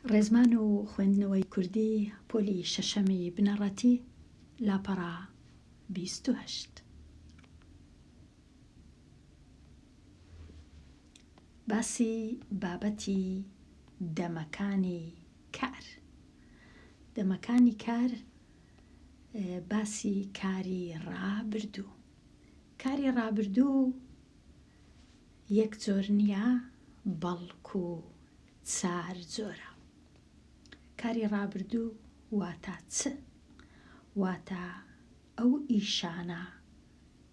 ڕێزمان و خوێندنەوەی کوردی پۆلی شەشەمی بنەڕەتی لاپەڕە بیست و هەشت باسی بابەتی دەمەکانی کار دەمەکانی کار باسی کاری ڕابردوو کاری ڕابردوو یەک جۆر نییە بەڵکو چار جۆرە. کاری ڕابردوو واتا چ؟ واتا ئەو ئیشانە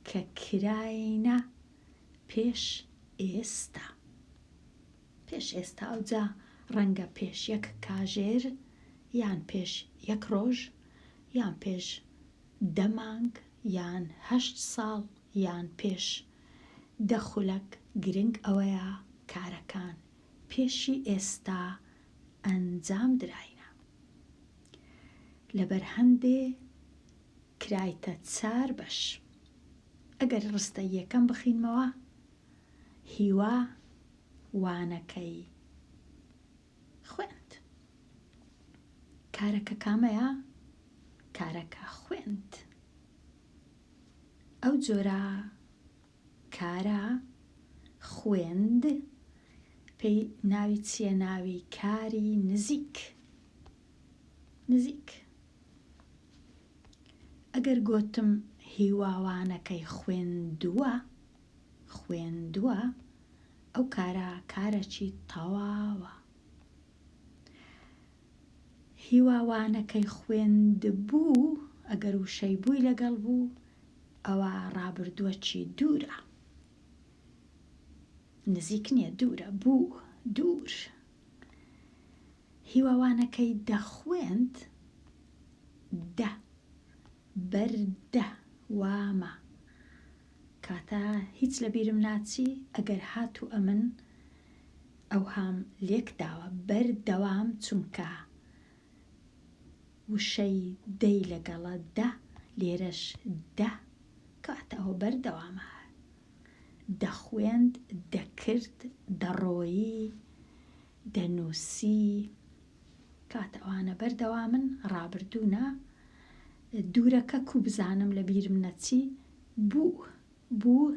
کە کراینە پێش ئێستا. پێش ئێستا ئەوجا ڕەنگە پێش یەک کاژێر یان پێش یەک ڕۆژ یان پێش دە مانگ یان هەشت ساڵ یان پێش دە خولەک گرنگ ئەوەیە کارەکان پێشی ئێستا ئەنجام دراینە لەبەر هەندێ کرایتە چار بەش ئەگەر ڕستە یەکەم بخینمەوە هیوا وانەکەی خوێند کارەکە کامەیە کارەکە خوێند. ئەو جۆرە کارە خوێند پێی ناوی چییە ناوی کاری نزیک نزیک ئەگەر گوتم هیواوانەکەی خوێندووە خوێندووە ئەو کارە کارەکی تەواوە هیوا وانەکەی خوێندبوو ئەگەر وشەی بووی لەگەڵ بوو ئەوا ڕابردووەکی دوورە نزیک نییە دوورە بوو دوور هیوا وانەکەی دەخوێند دە بەردە وامە کاتە هیچ لەبیرم ناچی ئەگەر هاتوو ئەمن ئەوهام لێک داوە بەر دەوام چونکە وشەی دەی لەگەڵە دە لێرەش دە کەواتە ئەوە بەر دەوامە دەخوێند دەکرد دەڕۆیی دەنووسی کاتە ئەوانە بەر دەوامن ڕابردوونە دوورەکە کو بزانم لە بیرم نەچی بوو بوو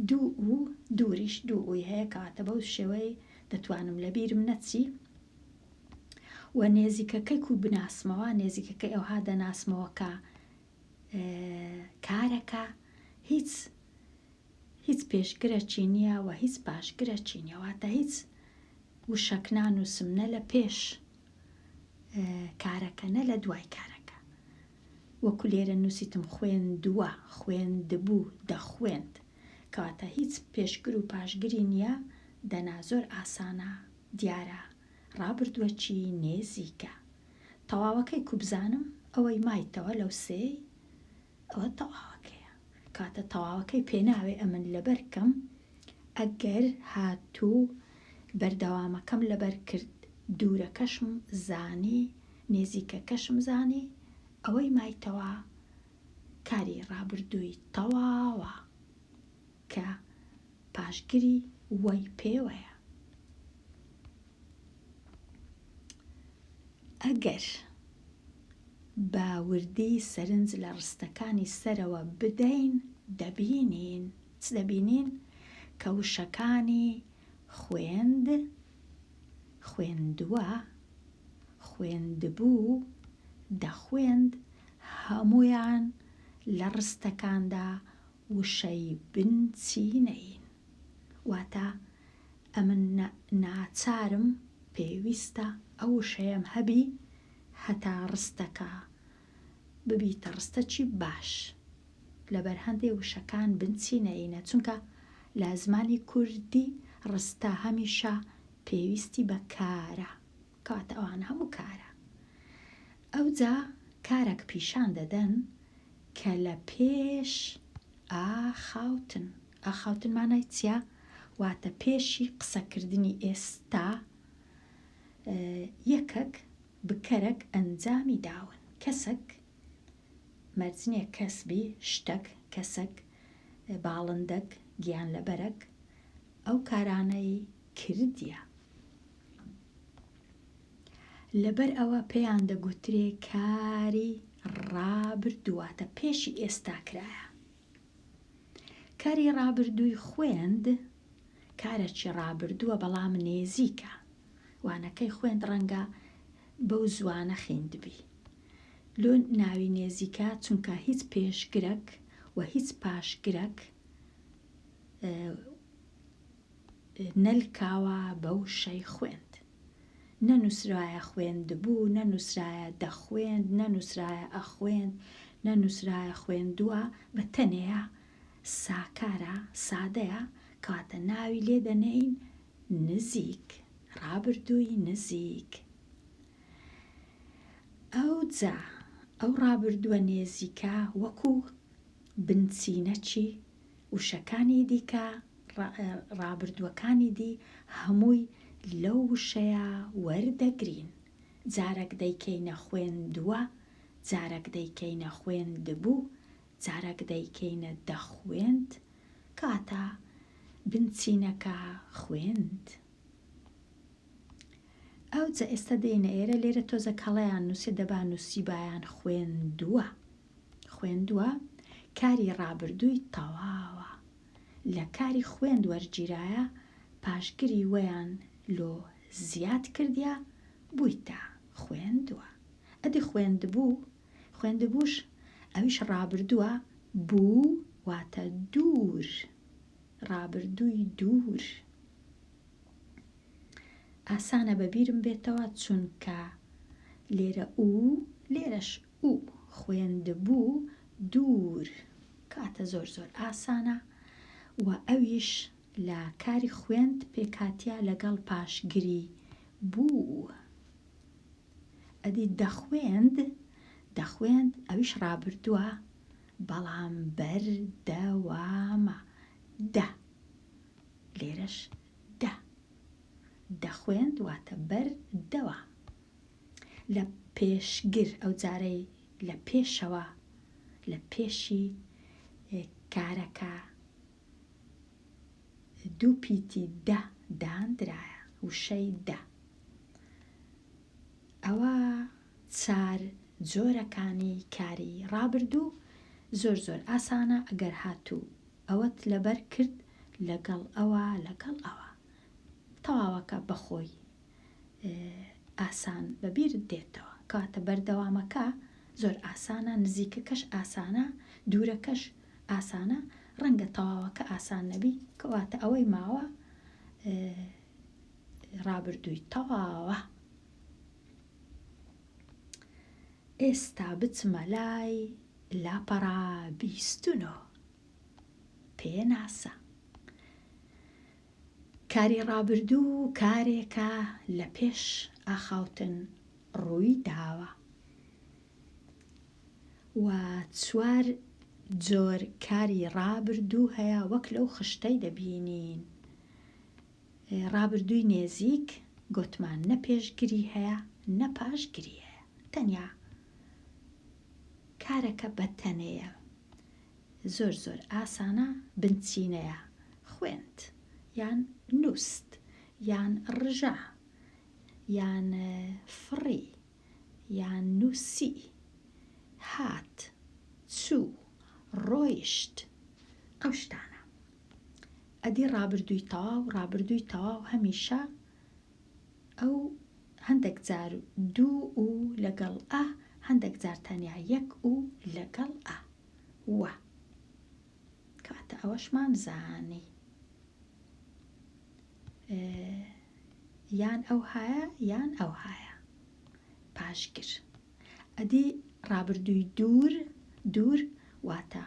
دوو ئوو دووریش دوو ئووی هەیە کەواتە بەو شێوەی دەتوانم لەبیرم نەچی و نێزیکەکەی کو بناسمەوە نێزیکەکەی ئەوها دەناسمەوە کە کارەکە هیچ هیچ پێشگرە چینیە و هیچ پاشگرە چینیەواتە هیچ وشەکنان و سمنە لە پێش کارەکە نە لە دوای کارەکە وەکو لێرە نووسیتم خوێندووە، خوێندبوو، دەخوێند. کەواتە هیچ پێشگر و پاشگری نییە، دەنا زۆر ئاسانە، دیارە، ڕابردووەکی نێزیکە. تەواوەکەی کوبزانم، ئەوەی مایتەوە لەو سێی، ئەوە تەواوەکەیە. کەواتە تەواوەکەی پێناوێ ئەمن لەبەر کەم، ئەگەر هاتوو بەردەوامەکەم لەبەر کرد، دوورەکەشم زانی، نێزیکەکەشم زانی ئەوەی مایتەوە کاری ڕابردووی تەواوە کە پاشگری وەی پێوەیە. ئەگەر بە وردی سەرنج لە ڕستەکانی سەرەوە بدەین دەبینین چ دەبینین کە وشەکانی خوێند، خوێندوە، خوێندبوو، دەخوێند هەموویان لە ڕستەکاندا وشەی بن چینەین. واتە ئەمن ناچارم، پێویستە، ئەو وشەیەم هەبی هەتا ڕستەکە ببیتە ڕستەکی باش لەبەر هەندێ وشەکان بنچی نەینە چونکە لە زمانی کوردی ڕستە هەمیشە پێویستی بە کارە کەواتە ئەوان هەموو کارە ئەوجا کارەک پیشان دەدەن کە لە پێش ئاخاوتن ئاخاوتن مانای چیا واتە پێشی قسەکردنی ئێستا یەکەک بکەرەک ئەنجامی داون کەسەک مەرجنیە کەس بی شتەک کەسەک باڵندەک گیانلەبەرەک ئەو کارانەی کردیە لەبەر ئەوە پێیان دەگوترێ کاری ڕابردوواتە پێشی ئێستا کرایە. کاری ڕابردووی خوێند، کارەکی ڕابردووە بەڵام نێزیکە وانەکەی خوێند ڕەنگە بەو زوانە خیندبی لۆ ناوی نێزیکە چونکە هیچ پێشگرەک و هیچ پاشگرەک نەلکاوە بە وشەی خوێند. نەنووسرایە خوێندبوو، نەنووسرایە دەخوێند، نەنووسرایە ئەخوێند، نەنووسرایە خوێندووە، بە تەنێیا ساکارە، سادەیە، کەواتە ناوی لێ دەنێین نزیک، ڕابردووی نزیک. ئەوجا ئەو ڕابردووە نێزیکە وەکوو بنچینەکی وشەکانی دیکە ڕابردووەکانی دی هەمووی لەو وشەیە وەردەگرین، جارەک دەیکەینە خوێندووە، جارەک دەیکەینە خوێندبوو، جارەک دەیکەینە دەخوێند، کەواتە بنچینەکە خوێند. ئەوجە ئێستا دێینە ئێرە، لێرە تۆزێک هەڵەیان نووسیە، دەبا نووسیبایان خوێندووە. خوێندوە کاری ڕابردووی تەواوە لە کاری خوێند وەرگیرایە پاشگری وەیان لۆ زیاد کردیە بویتە خوێندوە ئەدی خوێندبوو خوێندبووش ئەویش ڕابردووە بوو واتە دوور ڕابردووی دوور ئاسانە بەبیرم بێتەوە چونکە لێرە ئوو لێرەش و خوێندبوو دوور کاتە زۆر زۆر ئاسانە و ئەویش لە کاری خوێند پێکهاتیە لەگەڵ پاشگری بوو ئەدی دەخوێند دەخوێند ئەویش ڕابردووە بەڵام بەر دە وا مە دە لێرەش دە دەخوێند واتە بەر دەوام. لە پێشگر ئەو جارەی لە پێشەوە لە پێشی کارەکە دوو پیتی دە داندرایە وشەی دە ئەوە چار جۆرەکانی کاری ڕابردوو زۆر زۆر ئاسانە ئەگەر هاتوو ئەوەت لەبەر کرد لەگەڵ ئەوە لەگەڵ ئەوە تەواوەکە بەخۆی ئاسان بەبیر دێتەوە کەواتە بەردەوامەکە زۆر ئاسانە نزیکەکەش ئاسانە دوورەکەش ئاسانە ڕەنگە تەواوەکە ئاسان نەبی کەواتە ئەوەی ماوە ڕابردووی تەواوە ئێستا بچمە لای لاپەڕا بیستنۆ پێناسە کاری ڕابردوو کارێکە لە پێش ئاخاوتن ڕووی داوە و چوار جۆر کاری ڕابردوو هەیە وەک لەو خشتەی دەبینین ڕابردووی نێزیک گۆتمان نە پێشگری هەیە نە پاشگری هەیە تەنیا کارەکە بە تەنەیە زۆر زۆر ئاسانە بنچینەیە خوێند یان نوست یان ڕژا یان فڕی یان نوسی هات چوو ڕۆیشت ئەو شتانە ئەدی ڕابردووی تەواو ڕابردووی تەواو هەمیشە ئەو هەندێک جار دوو و لەگەڵ ئە هەندێک جار تەنیا یەک و لەگەڵ ئە وە کەواتە ئەوەشمان زانی یان ئەو هایە یان ئەو هایە پاشگر ئەدی ڕابردووی دوور دوور واتە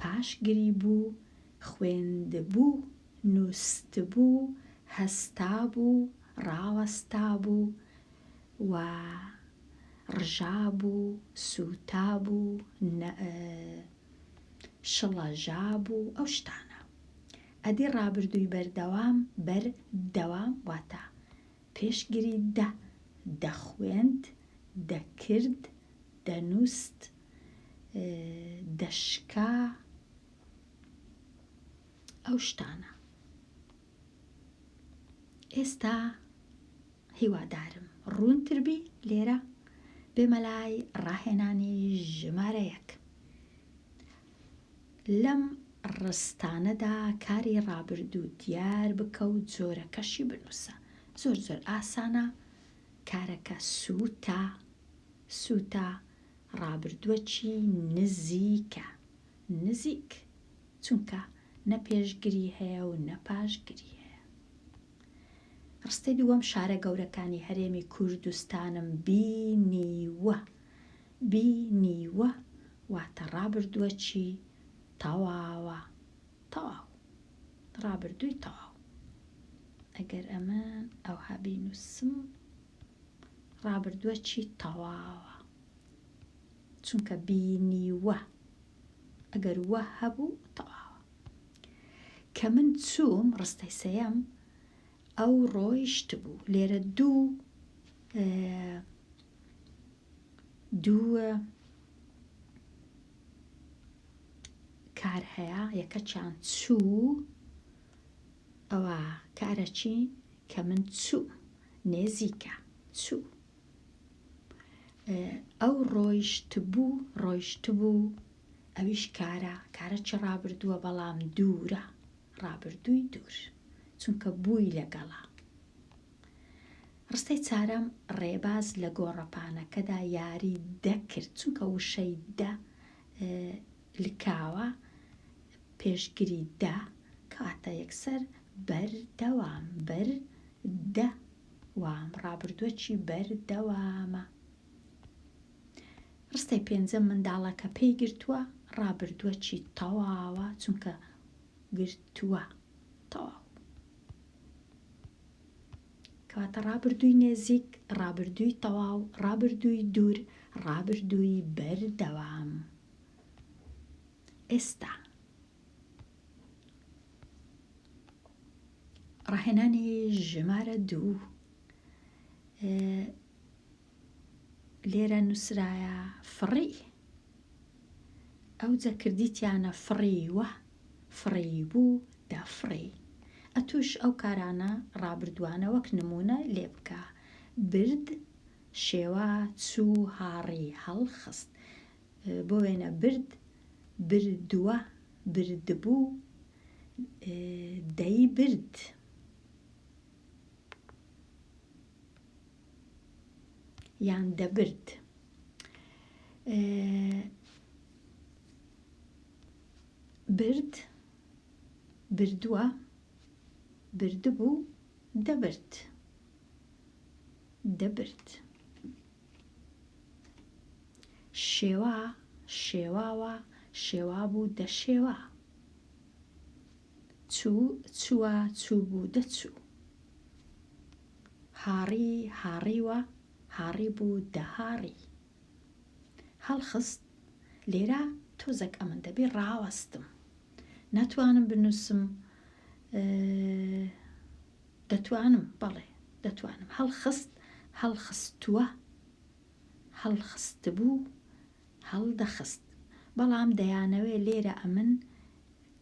پاشگری بوو خوێندبوو نووستبوو هەستا بوو ڕاوەستا بوو و ڕژابوو و سووتابوو و شڵەژابوو ئەو شتانە ئەدی ڕابردووی بەردەوام بەر دەوام واتە پێشگری دە دەخوێند دەکرد دەنووست دەشکا ئەو شتانە. ئێستا هیوادارم ڕوونتر بی لێرە بێمە لای ڕاهێنانی ژمارە یەک لەم ڕستانەدا کاری ڕابردوو دیار بکە و جۆرەکەشی بنووسە زۆر زۆر ئاسانە کارەکە سووتا سووتا ڕابردووەکی نزیکە نزیک چونکە نە پێشگری هەیە و نە پاشگری هەیە. ڕستەی دووەم شارە گەورەکانی هەرێمی کوردستانم بینیوە، بینیوە واتە ڕابردووەکی تەواوە، تەواو، ڕابردووی تەواو. ئەگەر ئەمن ئەوها بینووسم، ڕابردووەکی تەواوە، چونکە بینیوە. ئەگەر وە هەبوو تەواوە. کە من چووم ڕستەی سێیەم ئەو ڕۆیشتبوو لێرە دوو دوو کار هەیە یەکەچیان چوو ئەوە کارەچی کە من چوو نێزیکە چوو ئەو ڕۆیشتبوو ڕۆیشتبوو ئەویش کارە کارە چ ڕابردووە بەڵام دوورە ڕابردووی دوور چونکە بووی لەگەڵا ڕستەی چارەم ڕێباز لە گۆڕەپانەکەدا یاری دەکرد چونکە وشەی دە لکاوە پێشگری دا کاتە یەکسەر بەردەوام بەر دە وام ڕابردووە چی بەر دەوامە. ڕستەی پێنجەم منداڵەکە پێی گرتووە ڕابردووە چی تەواوە چونکە گرتووە تەواو کەواتە ڕابردووی نێزیک ڕابردووی تەواو ڕابردووی دوور ڕابردووی بەردەوام. ئێستا ڕاهێنانی ژمارە دوو لێرە نووسرایە فڕی ئەو جەکردیتیانە فڕیوە فڕی بوو دەفڕی ئەتوش ئەو کارانە ڕابردوانە وەک نمونە لێ بکە برد شێوا چوو هاڕی هەڵخست بۆ وێنە برد، بردووە، بردبوو، دەیبرد. یان دەبرد. برد، بردووە، بردبوو، دەبرد. دەبرد. شێوا، شێواوە، شێوابوو، دەشێوا. چوو، چووە، چووبوو، دەچوو. هاڕی، هاڕیوە، هاڕیبوو، دەهاڕی. هەڵخست، لێرە تۆزەک ئەمن دەبێ ڕاوەستم. ناتوانم بنووسم، دەتوانم، بەڵێ دەتوانم. هەڵخست، هەڵخستووە. هەڵخستبوو، هەڵدەخست. بەڵام دەیانەوێ لێرە ئەمن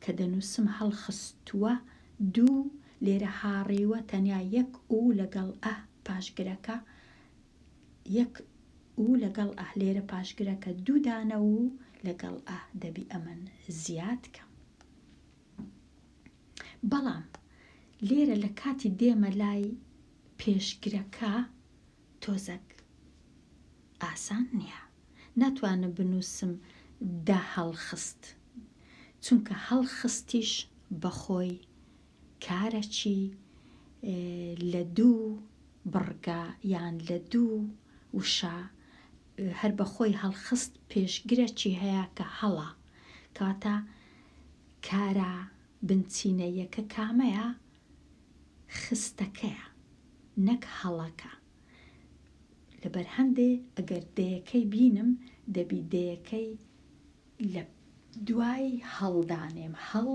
کە دەنووسم هەڵخستووە دوو، لێرە هاڕیوە تەنیا یەک ئو لەگەڵ ئە پاش گرەکە، یەک ئو لەگەڵ ئە لێرە پاش گرەکە دوو دانە و لەگەڵ ئە دەبی ئەمن زیاد کەم. بەڵام لێرە لە کاتی دێمە لای پێشگرەکە تۆزەک ئاسان نییە ناتوانم بنووسم دە هەڵخست چونکە هەڵخستیش بەخۆی کارەکی لە دوو بڕگە یان لە دوو وشە هەر بە خۆی هەڵخست پێشگرە چی هەیە کە هەڵە کەواتە کارە بنچینە یەکە کامەیە خستەکەیە نەک هەڵەکە لەبەر هەندێ ئەگەر دەیەکەی بینم دەبی دەیەکەی لە دوای هەڵدانێم هەڵ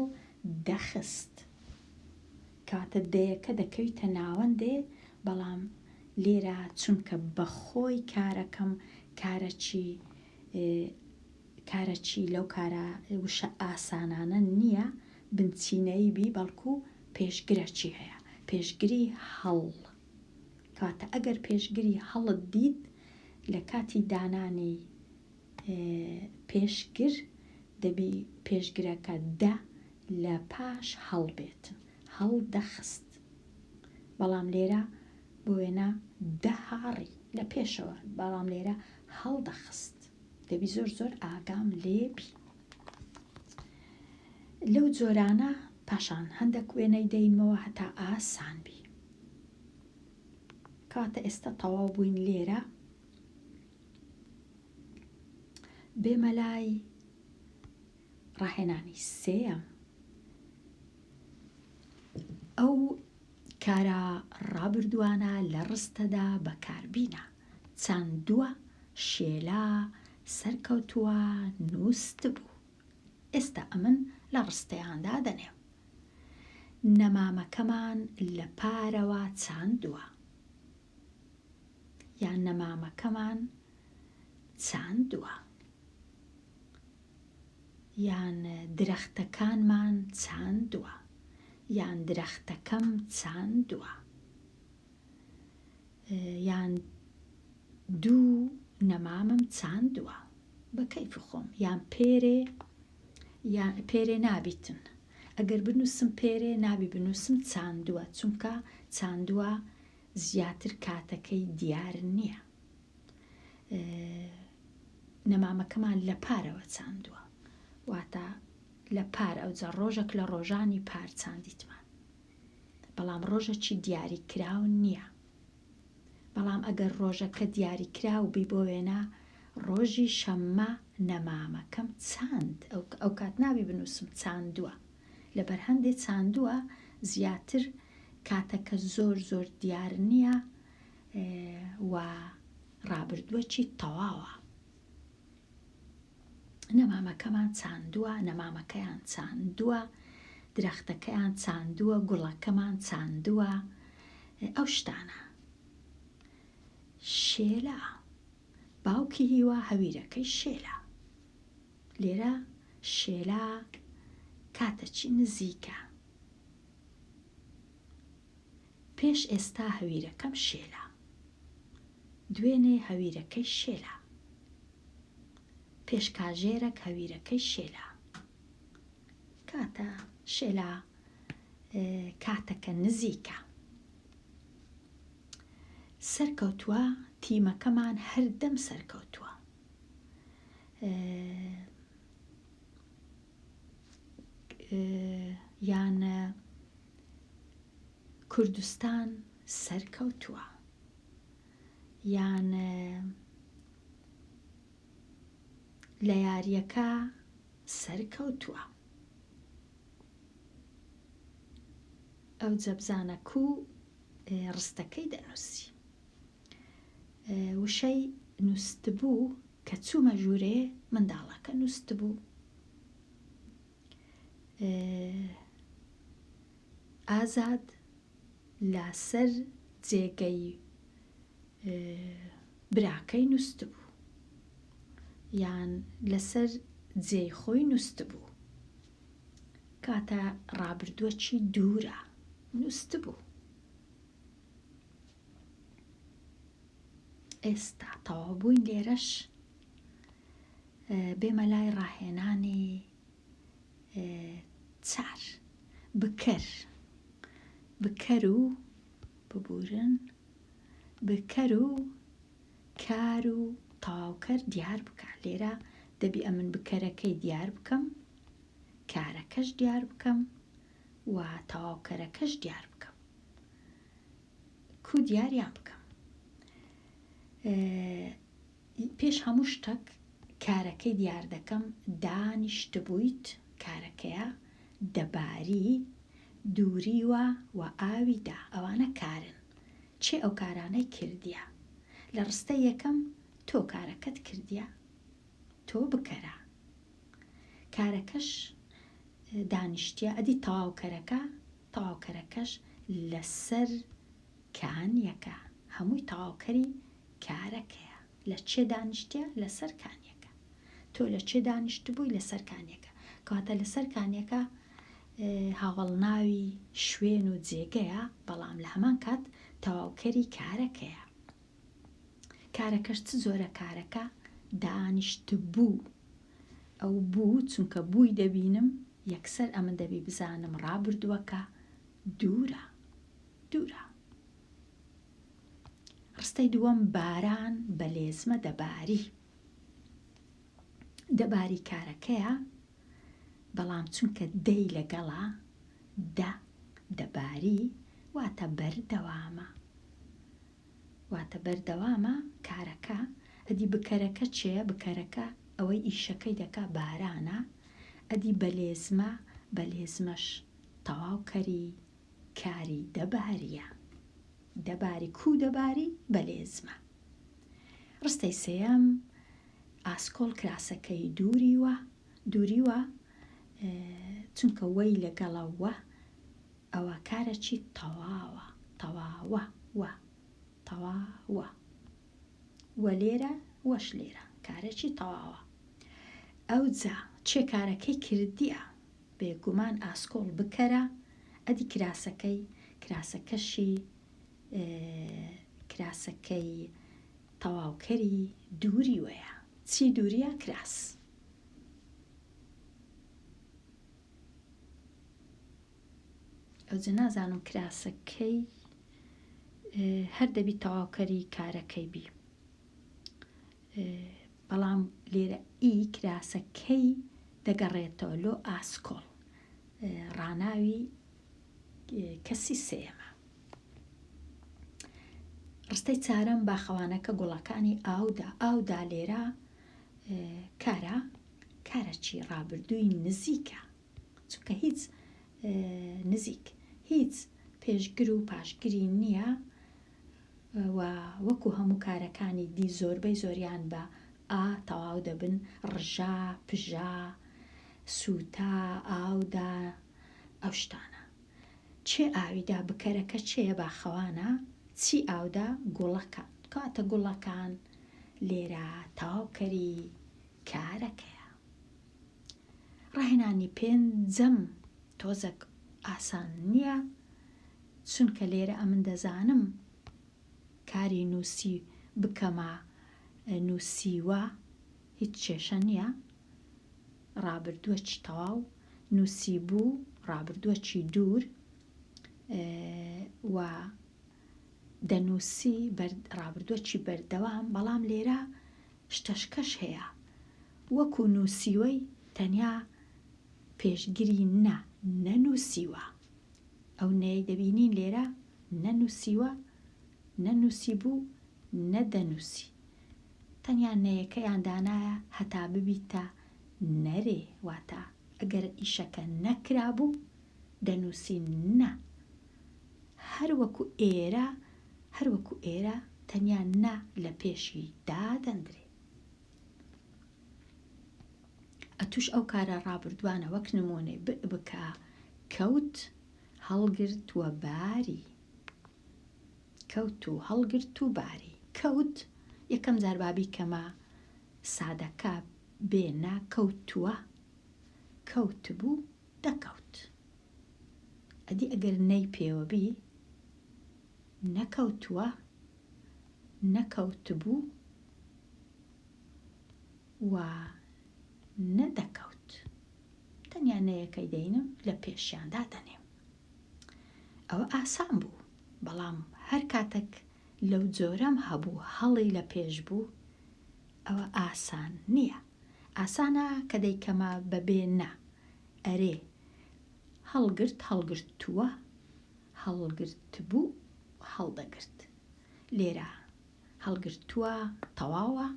دەخست. کەواتە دەیەکە دەکەویتە ناوەندێ، بەڵام لێرە چونکە بە خۆی کارەکەم کارەکی کارەکی لەو کارە وشە ئاسانانە نییە بنچینەیی بی بەڵکوو پێشگرەکی هەیە، پێشگری هەڵ. کەواتە ئەگەر پێشگری هەڵت دیت لە کاتی دانانی پێشگر دەبی پێشگرەکە دە لە پاش هەڵ بێت هەڵ دەخست بەڵام لێرە بۆ وێنە دەهاڕی لە پێشەوە بەڵام لێرە هەڵ دەخست دەبی زۆر زۆر ئاگام لێبی لەو جۆرانە پاشان هەندێک وێنەی دەینمەوە هەتا ئاسان بی کاتە ئێستا تەواو بووین لێرە بێ مەلای ڕاهێنانی سێەم ئەو کارە ڕابردوانە لە ڕستەدا بەکاربینە چەند دووە شێلا سەرکەوتووە نووست بوو ئێستا ئەمن لە ڕستەیاندا دەنێ نەمامەکەمان لە پارەوە چاندووە یان نەمامەکەمان چاندووە یان درەختەکانمان چاندووە یان درەختەکەم چاندووە یان دوو نەمامم چاندووە بە کەیف خۆم یان پێرێ یان پێرێ نابیتن ئەگەر بنووسم پێرێ نابی بنووسم چاندووە چونکە چاندووە زیاتر کاتەکەی دیار نیە نەمامەکەمان لە پارەوە چاندووە واتە لە پار ئەوجا ڕۆژەک لە ڕۆژانی پار چاندیتمان بەڵام ڕۆژەکی دیاری کراو نییە بەڵام ئەگەر ڕۆژەکە دیاری کراو بی بۆ وێنە ڕۆژی شەممە نەمامەکەم چاند ئەو کات ناوی بنووسم چاندووە لەبەر هەندێ چاندووە زیاتر کاتەکە زۆر زۆر دیار نییە و ڕابردووەکی تەواوە نەمامەکەمان چاندووە نەمامەکەیان چاندووە درەختەکەیان چاندووە گوڵەکەمان چاندووە ئەو شتانە شێلا باوکی هیوا هەویرەکەی شێلا لێرە شێلا کاتەچی نزیکە پێش ئێستا هەویرەکەم شێلا دوێنێ هەویرەکەی شێلا پێش کاژێرەک هەویرەکەی شێلا کاتە شێلا کاتەکە نزیکە سەرکەوتووە تیمەکەمان هەردەم سەرکەوتووە یان کوردستان سەرکەوتووە یان لە یاریەکە سەرکەوتووە ئەو جەبزانە کو ڕستەکەی دەنووسی وشەی نووستبوو کە چوومە ژوورێ منداڵەکە نووستبوو ئازاد لاسەر جێگەی براکەی نووستبوو یان لەسەر جێی خۆی نووستبوو کاتە ڕابردووەکی دوورە نووستبوو ئێستا تەواو بووین لێرەش بێمە لای ڕاهێنانی چار بکەر بکەر و ببورن بکەر و کار و تەواوکەر دیار بکە لێرە دەبی ئەمن بکەرەکەی دیار بکەم کارەکەش دیار بکەم و تەواوکەرەکەش دیار بکەم کو دیاریان بکەم پێش هەموو شتەک کارەکەی دیار دەکەم دانیشتبوویت کارەکەیە دەباری دووریوە و ئاوی دا ئەوانە کارن چێ ئەو کارانەی کردیە لە ڕستە یەکەم تۆ کارەکەت کردیە تۆ بکەرە کارەکەش دانیشتە ئەدی تەواوکەرەکە تەواوکەرەکەش لەسەر کانیەکە هەمووی تەواوکەری کارەکەیە لە چێ دانیشتە لەسەر کانیەکە تۆ لە چێ دانیشت بووی لەسەر کانیەکە کەواتە لەسەر کانیەکە هاوەڵناوی شوێن و جێگەیە بەڵام لە هەمان کات تەواوکەری کارەکەیە کارەکەش چ جۆرە کارەکە دانیشتبوو ئەو بوو چونکە بووی دەبینم یەکسەر ئەمن دەبی بزانم ڕابردووەکە دوورە دوورە ڕستەی دووەم باران بە لێزمە دەباری دەباری کارەکەیە بەڵام چونکە دەی لەگەڵا دە دەباری واتە بەردەوامە واتە بەردەوامە کارەکە، ئەدی بکەرەکە چێە؟ بکەرەکە ئەوەی ئیشەکەی دەکا بارانە، ئەدی بەلێزمە؟ بەلێزمەش تەواو کەری کاری دەباریە، دەباری کوو دەباری؟ بەلێزمە. ڕستەی سێەم، ئاسکۆڵ کراسەکەی دووریوە، دووریوە چونکە وەی لەگەڵە وە ئەوە کارەچی تەواوە تەواوە وە تەوا وە وە لێرە وەش لێرە کارەچی تەواوە ئەوجا چێ کارەکەی کردیە بێگومان ئاسکۆڵ بکەرە ئەدی کراسەکەی کراسەکەشی کراسەکەی تەواوکەری دووری وەیە چی دووریە کراس. ئەوجە نازانم کراسەکەی هەر دەبی تەواوکەری کارەکەی بی بەڵام لێرە ئی کراسەکەی دەگەڕێتەوە لۆ ئاسکۆڵ ڕناوی کەسی سێمە ڕستەی چارەم باخەوانەکە گوڵەکانی ئاودا ئاودا لێرە کارە کارەکی ڕابردووی نزیکە چونکە هیچ نزیک هیچ پێشگر و پاشگری نییە و وەکو هەموو کارەکانی دی زۆربەی زۆریان بە ئا تەواو دەبن ڕژا پژا سووتا ئاودا ئەو شتانە چێ ئاویدا بکەرەکە چێە باخەوانە چی ئاودا گوڵەکە کاتە گوڵەکان لێرە تەواو کەری کارەکەیە. ڕاهێنانی پێنجەم تۆزەک ئاسان نییە، چونکە لێرە ئەمن دەزانم کاری نووسی بکەمە نووسیوە هیچ کێشە نییە، ڕابردووەکی تەواو نووسیبوو، ڕابردووەکی دوور و دەنووسی ڕابردووەکی بەردەوام، بەڵام لێرە شتەشکەش هەیە وەکو نوسیوەی تەنیا پێشگری نە نەنوسیوە ئەو نەیەی دەبینین لێرە نەنوسیوە نەنوسیبوو نەدەنوسی تەنیا نەیەکەیان دانایە هەتا ببیتە نەرێ واتە ئەگەر ئیشەکە نەکرابوو دەنووسین نە هەر وەکو ئێرە هەر وەکو ئێرە تەنیا نە لە پێشی دادەندرێ ئەتوش ئەو کارە ڕابردوانە وەک نمونێ بکە کەوت هەڵگرتووە باری کەوت و هەڵگرت و باری کەوت یەکەم جاربابی کەمە سادەکە بێنە کەوتووە کەوت بوو دەکەوت ئەدی ئەگەر نەی پێوەبی نەکەوتووە نەکەوتبوو و نەدەکەوت تەنیا نەیەکەی دەینم لە پێشیاندا دەنێم ئەوە ئاسان بوو بەڵام هەر کاتەک لەو جۆرەم هەبوو هەڵی لە پێش بوو ئەوە ئاسان نیە ئاسانە کە دەیکەمە بەبێ نا ئەرێ هەڵگرت هەڵگرتووە هەڵگرتبوو هەڵدەگرت لێرە هەڵگرتووە تەواوە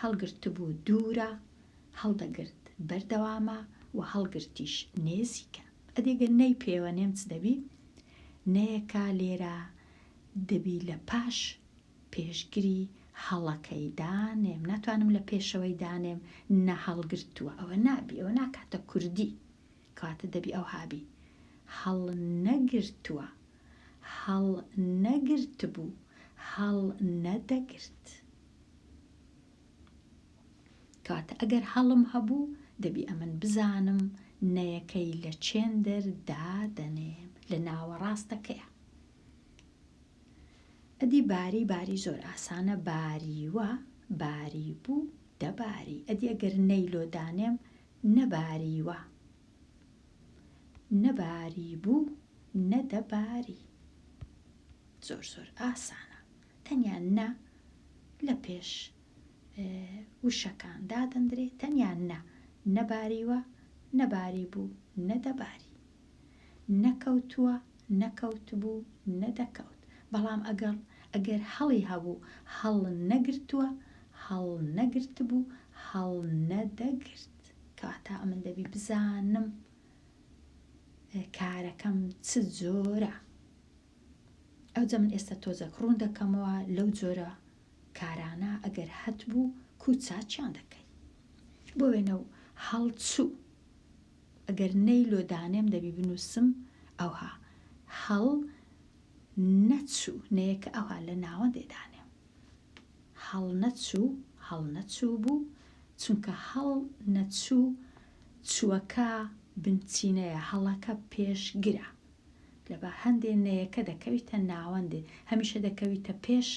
هەڵگرتبوو دوورە هەڵدەگرت بەردەوامە و هەڵگرتیش نێزیکە ئەدێگە نەی پێوەنێم چ دەبی نەیەکە لێرە دەبی لە پاش پێشگری هەڵەکەی دانێم ناتوانم لە پێشەوەی دانێم نە هەڵگرتووە ئەوە نابی ئەوە ناکاتە کوردی کاتە دەبی ئەو هابی هەڵ نەگرتووە هەڵ نەگرت بوو هەڵ نەدەگرت کاتە ئەگەر هەڵم هەبوو دەبی ئەمن بزانم نەیەکەی لە چێندەر دادەنێم لە ناوەڕاستەکەیە ئەدی باری باری زۆر ئاسانە باریوە باریبوو دەباری ئەدی ئەگەر نەی لۆ دانێم نەباریوە نەباریبوو نەدەباری زۆر زۆر ئاسانە تەنیا نە لە پێش وشەکان دادەندرێت تەنیا نە نەباریوە نەباری بوو نەدەباری نەکەوتووە، نەکەوتبوو، نەدەکەوت. بەڵام ئەگەڵ ئەگەر هەڵی هەبوو، هەڵنەگرتووە، هەڵنەگرتبوو، هەڵنەدەگرت. کەواتە ئەمن دەبی بزانم کارەکەم چ جۆرە. ئەوجە من ئێستا تۆزەک ڕوون دەکەمەوە لەو جۆرە کارانە ئەگەر هەتبوو کو چاچیان دەکەی. بۆ وێنە و هەڵچوو ئەگەر نەی لۆ دانێم دەبی بنوسم ئەوها هەڵ نەچو نەیەکە ئەوها لە ناوەندێ دانێم هەڵ نەچو هەڵ نەچو بو چونکە هەڵ نەچو چوەکە بنچینەیە هەڵەکە پێشگرە لەبە هەندێ نەیەکە دەکەویتە ناوەندێ هەمیشە دەکەویتە پێش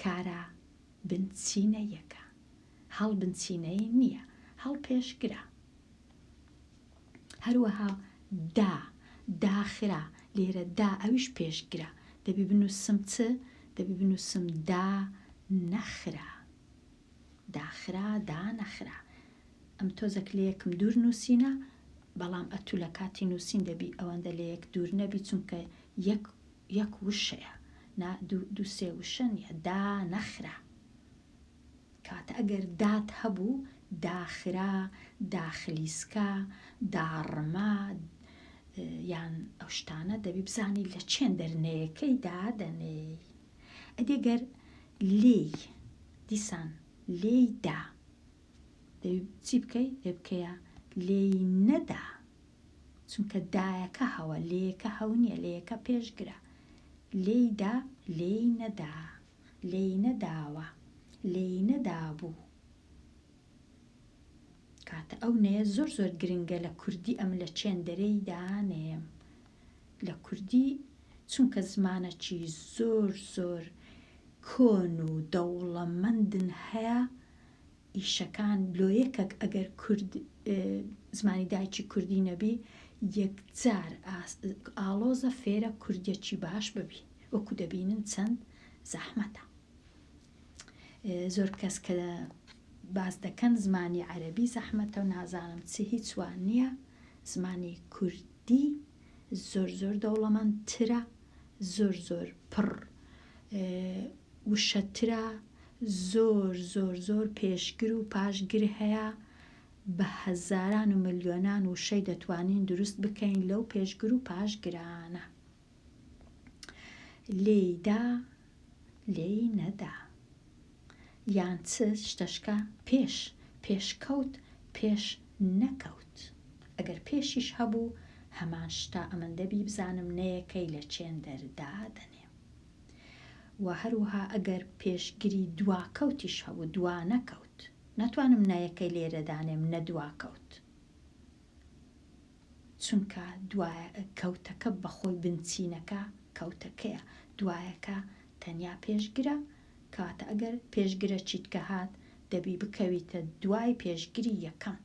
کارە بنچینەیەکە هەڵ بنچینەی نییە، هەڵ پێشگرە. هەروەها دا، داخرا، لێرە دا ئەویش پێشگرە، دەبی بنووسم چ؟ دەبی بنووسم دا نەخرا. داخرا، دا نەخرا. ئەم تۆزەک لە یەکم دوور نووسینە، بەڵام ئەتوو لە کاتی نووسین دەبی ئەوەندە لە یەک دوور نەبی، چونکە یەک یەک وشەیە، نا دوو دوو سێ وشە نییە، دا نەخرا. کات ئەگەر دات هەبوو، داخرا، داخلیسکا، داڕما، یان ئەو شتانە، دەبی بزانی لە چێن دەرنەیەکەی دادەنێی. ئەدی گەر لێی، دیسان لێی دا. دەبی چی بکەی؟ دەبی بکەیە لێی نەدا. چونکە دایەکە هەوە، لێیەکە هەو نییە، لێیەکە پێشگرە. لێی دا، لێی نەدا. لێی نەداوە، لێی نەدابوو. کاتە ئەو نەیە زۆر زۆر گرنگە لە کوردی ئەم لە چێندەرێیدا نەیەم. لە کوردی چونکە زمانەکی زۆر زۆر کۆن و دەوڵەمەندن هەیە ئیشەکان لۆ یەکەک ئەگەر کورد زمانی دایکی کوردی نەبی یەکجار ئاڵۆزە فێرە کوردیەکی باش ببی وەکو دەبینن چەند زەحمەتە زۆر کەس کە باز دەکەن زمانی عەربی زەحمەتە و نازانم چ هیچوان نییە زمانی کوردی زۆر زۆر دەوڵەمەند ترە زۆر زۆر پڕ وشەترە زۆر زۆر زۆر پێشگر و پاشگر هەیە بە هەزاران و ملیۆنان وشەی دەتوانین دروست بکەین لەو پێشگر و پاشگرانە لێیدا لێی نەدا یان چ شتەشکە پێش پێشکەوت پێش نەکەوت؟ ئەگەر پێشیش هەبوو هەمان شتە ئەمن دەبی بزانم نەیەکەی لە چێندەر دادەنێم وە هەروها ئەگەر پێشگری دواکەوتیش هەبوو دوانەکەوت ناتوانم نەیەکەی لێرە دانێم نە دواکەوت چونکە دوای کەوتەکە بەخۆی بنچینەکە کەوتەکەیە دوایەکە تەنیا پێشگرە کاتە ئەگەر پێشگرە چیتکە هات دەبی بکەویتە دوای پێشگری یەکەم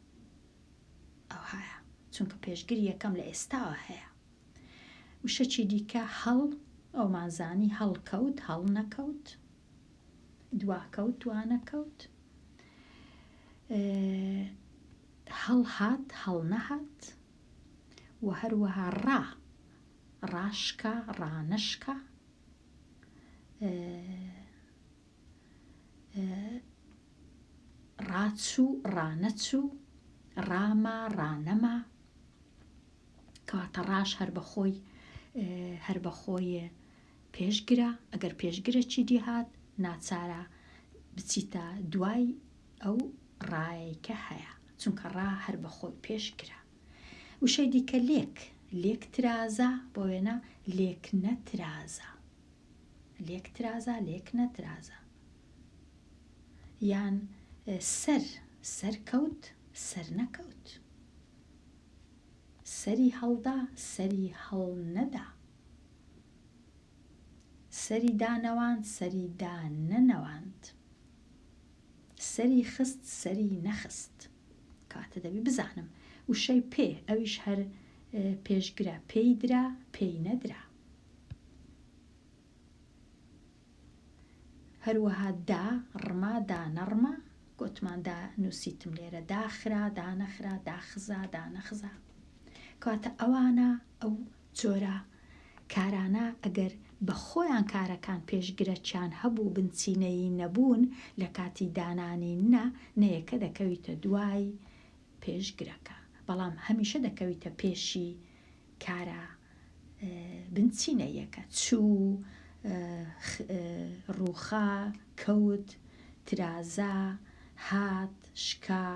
ئەوهایە چونکە پێشگری یەکەم لە ئێستاوە هەیە وشە چی دیکە هەڵ ئەومان زانی هەڵکەوت هەڵ نەکەوت دواکەوت دوانەکەوت هەڵهات هەڵ نەهات و هەروەها ڕا ڕاشکە ڕانەشکە ڕاچوو، ڕانەچوو، ڕاما، ڕانەما، کەواتە ڕاش هەر بەخۆی هەر بەخۆیە پێشگرە ئەگەر پێشگرە چی دیهات ناچارە بچیتە دوای ئەو ڕایەکە هەیە چونکە ڕا هەر بەخۆی پێشگرە وشەی دیکە لێک، لێک ترازە، بۆ وێنە لێک نەترازە. لێک ترازە، لێک نەترازە. یان سەر، سەرکەوت، سەرنەکەوت. سەری هەڵدا، سەری هەڵنەدا. سەری دانەواند، سەری دانەنەواند. سەری خست، سەری نەخست. کاتە دەبی بزانم وشەی پێ ئەویش هەر پێشگرە پێی درا پێی نەدرا هەروەها دا ڕما دا نەڕما گوتمان دا نووسیتم لێرە داخرا دانەخرا داخزا دانەخزا کاتە ئەوانە ئەو جۆرە کارانە ئەگەر بە خۆیان کارەکان پێشگرەکیان هەبوو بنچینەیی نەبوون لە کاتی دانانی نە نەیەکە دەکەویتە دوای پێشگرەکە بەڵام هەمیشە دەکەویتە پێشی کارە بنچینەییەکە چوو ڕووخا کەوت ترازا هات شکا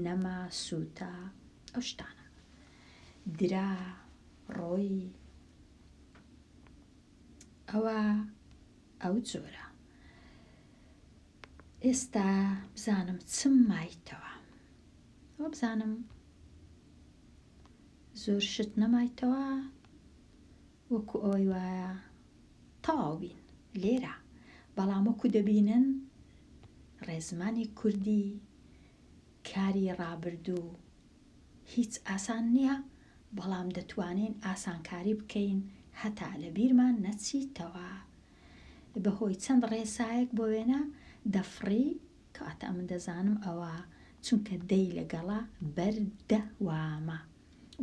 نەما سووتا ئەو شتانە. درا ڕۆی ئەوە ئەو جۆرە ئێستا بزانم چم مایتەوە ئەو بزانم زۆر شت نەمایتەوە وەکو ئەوەی وایە تەواو بین لێرە بەڵام وەکو دەبینن ڕێزمانی کوردی کاری ڕابردوو هیچ ئاسان نیە بەڵام دەتوانین ئاسانکاری بکەین هەتا لەبیرمان نەچیتەوە بەهۆی چەند ڕێسایەک بۆ وێنە دەفڕی کەواتە ئەمن دەزانم ئەوە چونکە دەی لەگەڵە بەر دە وامە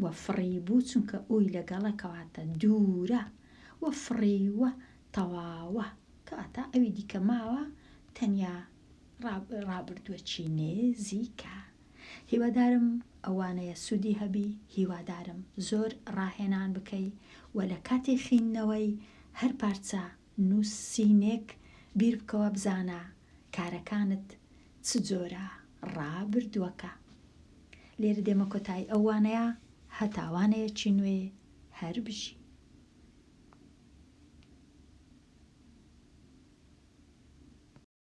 وە فڕی بوو چونکە ئوی لەگەڵە کەواتە دوورە وە فڕیوە تەواوە کەواتە ئەوی دیکە ماوە تەنیا ڕابردووەکی نێزیکە. هیوادارم ئەوانەیە سودی هەبی هیوادارم زۆر ڕاهێنان بکەی و لە کاتی خیندنەوەی هەر پارچە نوسینێک بیر بکەوە بزانە کارەکانت چ جۆرە ڕابردوەکە لێرە دێمە کۆتای ئەو وانەیە هەتا وانەیەکی نوێ هەر بژی